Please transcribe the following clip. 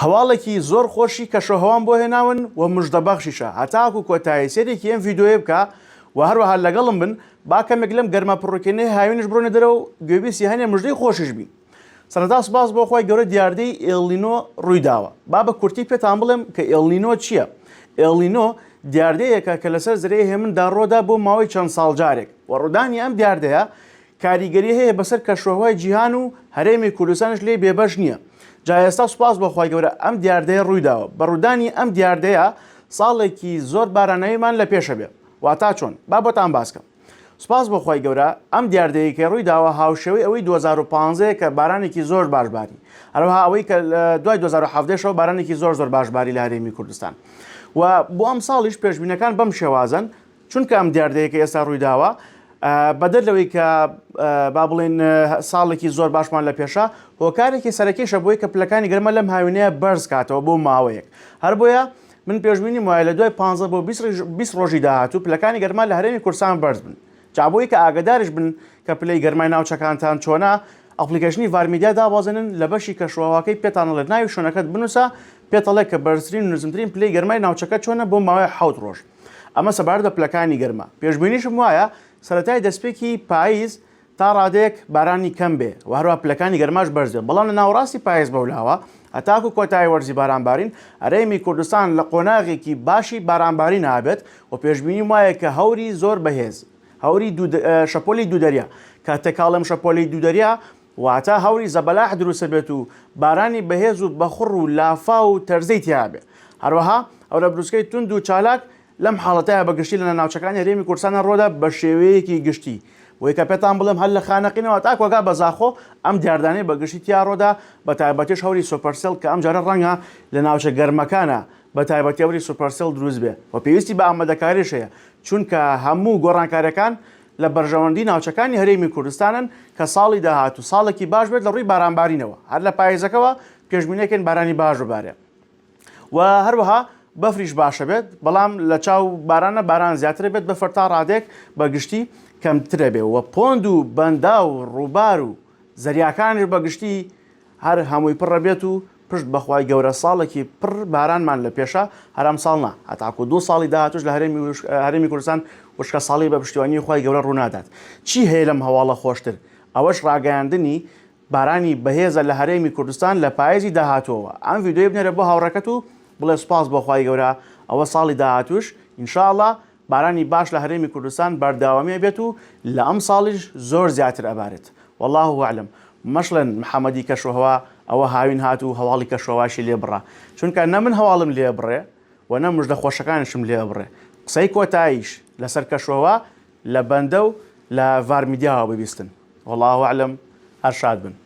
هەواڵێکی زۆر خۆشی کەشوهەوام بۆ هێناون و مژدە بەخشیشە هەتاکو کۆتایی سەیرێکی ئەم ڤیدۆیە بکە و هەروەها لەگەڵم بن با کەمێک لەم گەرما پڕوکێنەی هاوینش بڕۆنە دەرەوە و گوێبیسی هەنێ مژدەی خۆشیش بین سەرەتا سوپاس بۆ خوای گەورە دیاردەی ئێڵنینۆ ڕوویداوە با بە کورتی پێتان بڵێم کە ئێڵنینۆ چییە ئێڵنینۆ دیاردەیەکە کە لەسەر زرەی هێمندا ڕۆدا بۆ ماوەی چەند ساڵ جارێک و ڕوودانی ئەم دیاردەیە کاریگەری هەیە بەسەر کەشوهەوای جیهان و هەرێمی کوردستانیش لێی بێبەش نییە جا ئێستا سوپاس بۆ خوای گەورە ئەم دیاردەیە ڕوویداوە بە ڕوودانی ئەم دیاردەیە ساڵێکی زۆر باراناویمان لە پێشە بێ واتا چۆن با بۆتان باس کەم سوپاس بۆ خوای گەورە ئەم دیاردەیە کە ڕوویداوە هاوشێوەی ئەوەی 2015 کە بارانێکی زۆر باش باری هەروەها ئەوەی کە دوای 2017 شەوە بارانێکی زۆر زۆر باش باری لە هەرێمی کوردستان و بۆ ئەم ساڵیش پێشبینەکان بەم شێوازن چونکە ئەم دیاردەیە کە ئێستا ڕوویداوە بەدەر لەوەی کە با بڵێن ساڵێکی زۆر باشمان لە پێشە هۆکارێکی سەرەکیشە بۆی کە پلەکانی گەرمە لەم هاوینەیە بەرز کاتەوە بۆ ماوەیەک هەر بۆیە من پێشببینی وایە لە دوای 15 بۆ 20 ڕۆژی داهاتوو پلەکانی گەرمان لە هەرێمی کورسان بەرز بن جابۆی کە ئاگدارش بن کە پلەی گەرمای ناوچەکانتان چۆنا ئەپلیکەشنی ڤارمیدیا دابازێنن لە بەشی کەشوواکەی پێتانڵێت ناوی شوێنەکەت بنووسە پێتەڵێک کە بەرزترین نزمترین پلەی گەرمای ناوچەکە چۆنە بۆ ماوەی حوت ڕۆژ ئەمە سەبارەت بە پلەکانی گەرما. پێشبینیشم وایە سەرەتای دەستپێکی پاییز تا ڕادەیەک بارانی کەم بێ و هەروەها پلەکانی گەرماش بەرز بێن، بەڵام لە ناوەڕاستی پاییز بەولاوە هەتاکوو کۆتایی وەرزی بارانبارین، هەرێمی کوردستان لە قۆناغێکی باشی بارانبارین ئابێت و پێشبینیم وایە کە هەوری زۆر بەهێز، هەوری دوو، شەپۆلی دوو دەریا، کە تێکهاڵم شەپۆلی دوو دەریا واتە هەوری زەبەلاح دروستبێت و بارانی بەهێز و بەخوڕ و لافاو و تەرزەی تیابێت. هەروەها هەورە بروسکەی توند و چالاک لەم حاڵەتەیا بە گشتی لە ناوچەکانی هەرێمی کوردستانە ڕوەدا بەشێوەیەکی گشتی. بۆیە کە پێتان بڵێم هەر لە خانەقینەوە تا کۆگا بە زاخۆ ئەم دیاردانەی بە گشتی تیا ڕوەدا بەتایبەتیش هەوری سۆپەرسێڵ کە ئەمجارە ڕەنگە لە ناوچە گەرمەکانا بەتایبەتی هەوری سوپەرسێڵ دروست بێت و پێویستی بە ئامادەکاریش هەیە چونکە هەموو گۆڕانکاریەکان لە بەرژەوەندی ناوچەکانی هەرێمی کوردستانن کە ساڵی داهاتوو ساڵێکی باش بێت لە ڕووی بارانبارینەوە هەر لە پایزەکەوە پێشبینیەکەین بارانی باش ببارێت و هەروەها بەفریش باشە بێت بەڵام لە چاو بارانە باران زیاتر بێت بەفر تا ڕادێک بە گشتی کەمترە بێ و پۆند و بەندا و ڕووبار و زەریاکانش بە گشتی هەر هەمووی پڕە بێت و پشت بەخوای گەورە ساڵێکی پڕ بارانمان لە پێشە هەر ئەمساڵ نا هەتاکو دوو ساڵی داهاتوش لە هەرێمی وشک هەرێمی کوردستان وشکە ساڵی بە پشتیوانی خوای گەورە ڕوونادات چی هەیە لەم هەواڵە خۆشتر ئەوەش ڕاگەیاندنی بارانی بەهێزە لە هەرێمی کوردستان لە پایزی داهاتوەوە ئەم ڤیدیۆیە بنێرە بۆ هاوڕێکەت و بڵێ سوپاس بۆ خوای گەورە ئەوە ساڵی داهاتوش ان شاء اللە بارانی باش لە هەرێمی کوردستان بەرداوامی ئەبێت و لە ئەمساڵیش زۆر زیاتر ئەبارێت واللە اعلم مەشڵێن محەمەدی کەشوهەوا ئەوە هاوین هات و هەواڵی کەشوهەواشی لێ بڕا چونکە نە من هەواڵم لێ ئەبڕێ و نە مژدە خۆشەکانیشم لێ ئەبڕێ قسەی کۆتاییش لەسەر کەشوهەوا لە بەندە و لە ڤارمیدیاوە ببیستن واللە اعلم هەر شاد بن.